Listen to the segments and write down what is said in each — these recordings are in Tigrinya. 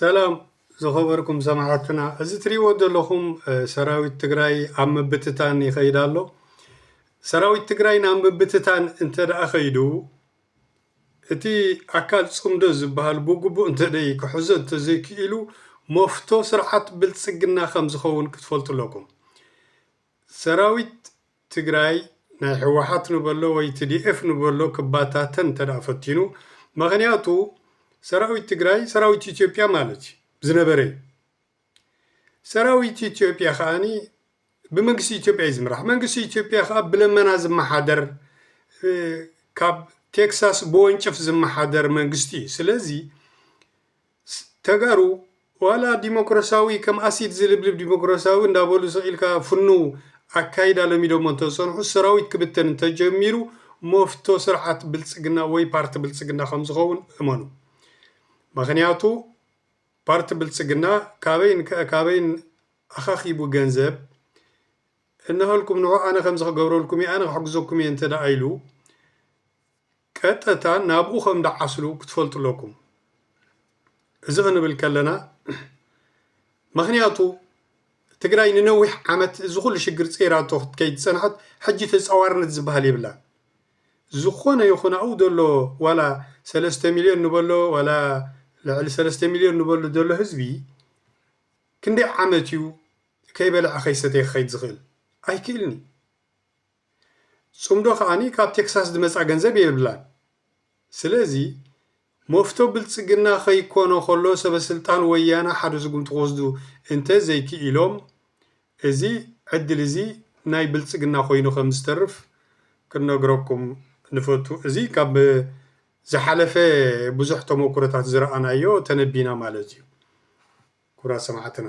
ሰላም ዝኸበርኩም ሰማዕትና እዚ ትሪእዎ ዘለኹም ሰራዊት ትግራይ ኣብ ምብትታን ይኸይድ ኣሎ። ሰራዊት ትግራይ ናብ ምብትታን እንተደኣ ከይዱ እቲ ኣካል ፅምዶ ዝብሃል ብግቡእ እንተደይ ክሕዞ እንተዘይክኢሉ መፍቶ ስርዓት ብልፅግና ከምዝኸውን ክትፈልጡ ኣለኩም። ሰራዊት ትግራይ ናይ ሕወሓት ንበሎ ወይ ትዲኤፍ ንበሎ ክባታተን እንተድኣ ፈቲኑ መኽንያቱ ሰራዊት ትግራይ ሰራዊት ኢትዮጵያ ማለት እዩ ዝነበረ እዩ ሰራዊት ኢትዮጵያ ከኣኒ ብመንግስቲ ኢትዮጵያ እዩ ዝምራሕ መንግስቲ ኢትዮጵያ ከኣ ብለመና ዝመሓደር ካብ ቴክሳስ ብወንጭፍ ዝመሓደር መንግስቲ እዩ ስለዚ ተጋሩ ዋላ ዲሞክራሲያዊ ከም ኣሲድ ዝልብልብ ዲሞክራሲያዊ እንዳበሉ ስቅ ኢልካ ፍኑው ኣካይዳ ለሚዶሞ እንተዝፀንሑ ሰራዊት ክብተን እንተጀሚሩ መፍቶ ስርዓት ብልፅግና ወይ ፓርቲ ብልፅግና ከምዝኸውን እመኑ ምኽንያቱ ፓርቲ ብልፅግና ካበይን ካበይን ኣኻኺቡ ገንዘብ እነሀልኩም ንዑ ኣነ ከምዚ ክገብረልኩም እየ ኣነ ክሕግዘኩም እየ እንተድኣ ኢሉ ቀጥታ ናብኡ ከም ድዓስሉ ክትፈልጡ ኣለኩም። እዚ ክንብል ከለና ምክንያቱ ትግራይ ንነዊሕ ዓመት እዚ ኩሉ ሽግር ጼራቶ ክትከይድ ዝጸንሐት ሕጂ ተጻዋርነት ዝብሃል የብላን። ዝኾነ ይኹን ኣብኡ ዘሎ ዋላ ሰለስተ ሚልዮን ንበሎ ዋላ ልዕሊ ሰለስተ ሚልዮን ንበሎ ዘሎ ህዝቢ ክንደይ ዓመት እዩ ከይበልዐ ከይሰተየ ክኸይድ ዝኽእል? ኣይክእልን እዩ። ጽምዶ ከኣ ካብ ቴክሳስ ዝመጻ ገንዘብ የብላን ስለዚ መፍቶ ብልጽግና ከይኮኖ ከሎ ሰበስልጣን ወያነ ሓደ ስጉምቲ ክወስዱ እንተ ዘይኪኢሎም እዚ ዕድል እዚ ናይ ብልጽግና ኮይኑ ከም ዝተርፍ ክንነግረኩም ንፈቱ እዚ ካብ ዝሓለፈ ብዙሕ ተሞኩሮታት ዝረኣናዮ ተነቢና ማለት እዩ ክብራት ሰማዕትና።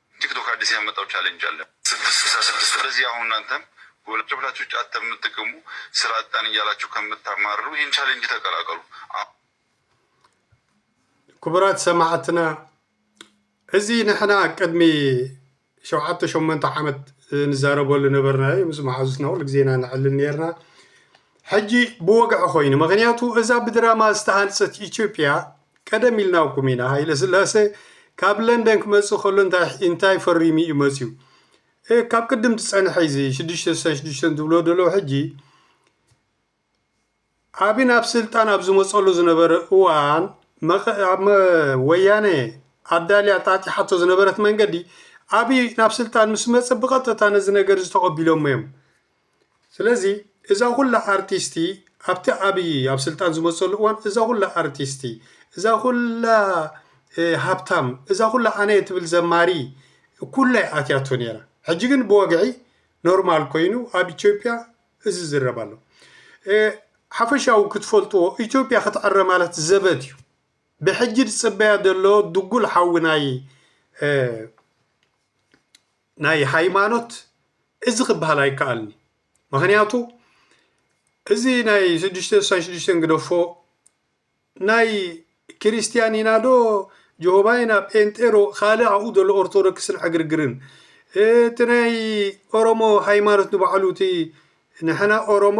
ቲክቶክ ኣዲስ ያመጣው ቻሌንጅ ኣለ ስድስት ስልሳ ስድስት ስለዚህ አሁን እናንተም ጎላቸው ብላችሁ ጫት ተምትቅሙ ስራ አጣን እያላችሁ ከምታማርሩ ይህን ቻሌንጅ ተቀላቀሉ። ክቡራት ሰማዕትና እዚ ንሕና ቅድሚ ሸውዓተ ሸሞንተ ዓመት ንዛረበሉ ነበርናዮ ምስ መሓዙትና ኩሉ ግዜ ኢና ንዕልል ነርና ሕጂ ብወግዒ ኮይኑ ምክንያቱ እዛ ብድራማ ዝተሃንፀት ኢትዮጵያ ቀደም ኢልናኩም ኢና ሃይለስላሰ ካብ ለንደን ክመጽእ ከሎ እንታይ ኢንታይ ፈሪሙ ኢዩ መጽዩ እህ ካብ ቅድም ትጸንሐ ኢዩ እዚ ሽዱሽተ ስሳን ሽዱሽተን ትብልዎ ደለዉ ሕጂ ኣቢ ናብ ስልጣን ኣብ ዝመጸሉ ዝነበረ እዋን መቐ ኣብ መ ወያነ ኣዳልያ ጣጢሓቶ ዝነበረት መንገዲ ኣቢ ናብ ስልጣን ምስ መጸ ብቐጥታ ነዚ ነገር እዚ ተቐቢሎሞ ኢዮም ስለዚ እዛ ኩላ ኣርቲስቲ ኣብቲ ኣብይ ኣብ ስልጣን ዝመፀሉ እዋን እዛ ኩላ ኣርቲስቲ እዛ ኩላ ሃብታም እዛ ኩላ ኣነ እየ ትብል ዘማሪ ኩላ እያ ኣትያቶ ነይራ። ሕጂ ግን ብወግዒ ኖርማል ኮይኑ ኣብ ኢትዮጵያ እዚ ዝረብ ኣሎ። ሓፈሻዊ ክትፈልጥዎ ኢትዮጵያ ክትዕረ ማለት ዘበት እዩ። ብሕጂ ዝፅበያ ዘሎ ድጉል ሓዊ ናይ ናይ ሃይማኖት እዚ ክበሃል ኣይከኣልን እዩ። ምክንያቱ እዚ ናይ ሽዱሽተ ስሳን ሽዱሽተን ግደፎ ናይ ክርስትያን ኢና ዶ ጆሆባ ኢና ጴንጤ ዶ ካልእ ኣብኡ ዘሎ ኦርቶዶክስን ዕግርግርን እቲ ናይ ኦሮሞ ሃይማኖት ንባዕሉ እቲ ንሕና ኦሮሞ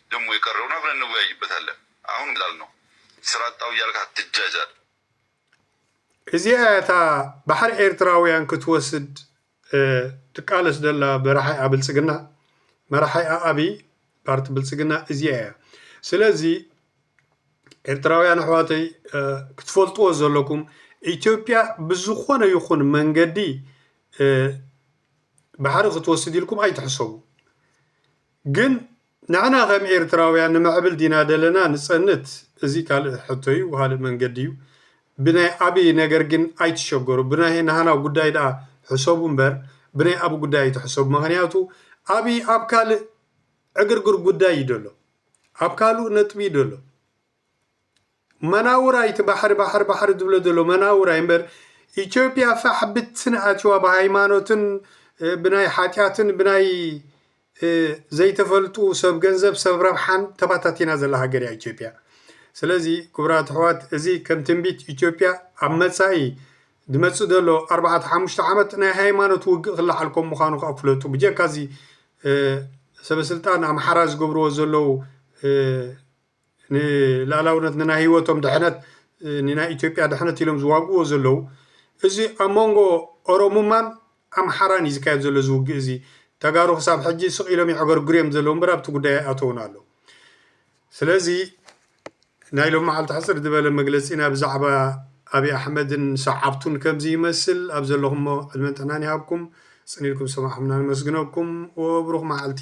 ደሞ የቀረብነው አብረን እንወያይበታለን አሁን ላልነው ስራ አጣው እያልክ አትጃጃል። እዚኣ እያ እታ ባሕሪ ኤርትራውያን ክትወስድ ትቃለስ ዘላ መራሓይኣ ብልፅግና መራሓይኣ ኣብይ ፓርቲ ብልፅግና እዚኣ እያ ስለዚ ኤርትራውያን ኣሕዋተይ ክትፈልጥዎ ዘለኩም ኢትዮጵያ ብዝኾነ ይኹን መንገዲ ባሕሪ ክትወስድ ኢልኩም ኣይትሕሰቡ ግን ንሕና ከም ኤርትራውያን ንምዕብል ዲና ደለና ንጸንት እዚ ካልእ ሕቶ እዩ ካልእ መንገዲ እዩ ብናይ ኣብይ ነገር ግን ኣይትሸገሩ ብናይ ናህና ጉዳይ ድኣ ሕሰቡ እምበር ብናይ ኣብይ ጉዳይ ኣይትሕሰቡ መክንያቱ ኣብይ ኣብ ካልእ ዕግርግር ጉዳይ እዩ ደሎ ኣብ ካሉእ ነጥቢ እዩ ደሎ መናውራ እዩ እቲ ባሕሪ ባሕሪ ባሕሪ ዝብሎ ዘሎ መናውራ እዩ እምበር ኢትዮጵያ ፋሕ ብትን ኣትዩዋ ብሃይማኖትን ብናይ ሓጢኣትን ብናይ ዘይተፈልጡ ሰብ ገንዘብ ሰብ ረብሓን ተበታቲና ዘላ ሃገር እያ ኢትዮጵያ ስለዚ ክቡራት ኣሕዋት እዚ ከም ትንቢት ኢትዮጵያ ኣብ መፃኢ ዝመፅእ ዘሎ ኣርባዕተ ሓሙሽተ ዓመት ናይ ሃይማኖት ውግእ ክለዓል ከም ምዃኑ ከዓ ፍለጡ ብጀካ እዚ ሰበስልጣን ኣምሓራ ዝገብርዎ ዘለዉ ንላላውነት ንናይ ሂወቶም ድሕነት ንናይ ኢትዮጵያ ድሕነት ኢሎም ዝዋግእዎ ዘለዉ እዚ ኣብ መንጎ ኦሮሙማን ኣምሓራን እዩ ዝካየድ ዘሎ እዚ ውግእ እዚ ተጋሩ ክሳብ ሕጂ ስቅ ኢሎም የዕገርግሩ እዮም ዘለዉ እምበር ኣብቲ ጉዳይ ኣይኣተዉን ኣለዉ ስለዚ ናይ ሎማዓልቲ ሕጽር ዝበለ መግለጺና ብዛዕባ ኣቢ ኣሕመድን ሰዓብቱን ከምዚ ይመስል ኣብ ዘለኹሞ ዕድመን ጥዕናን ይሃብኩም ጽን ኢልኩም ዝሰማዕኹምና ነመስግነኩም ወብሩኽ መዓልቲ።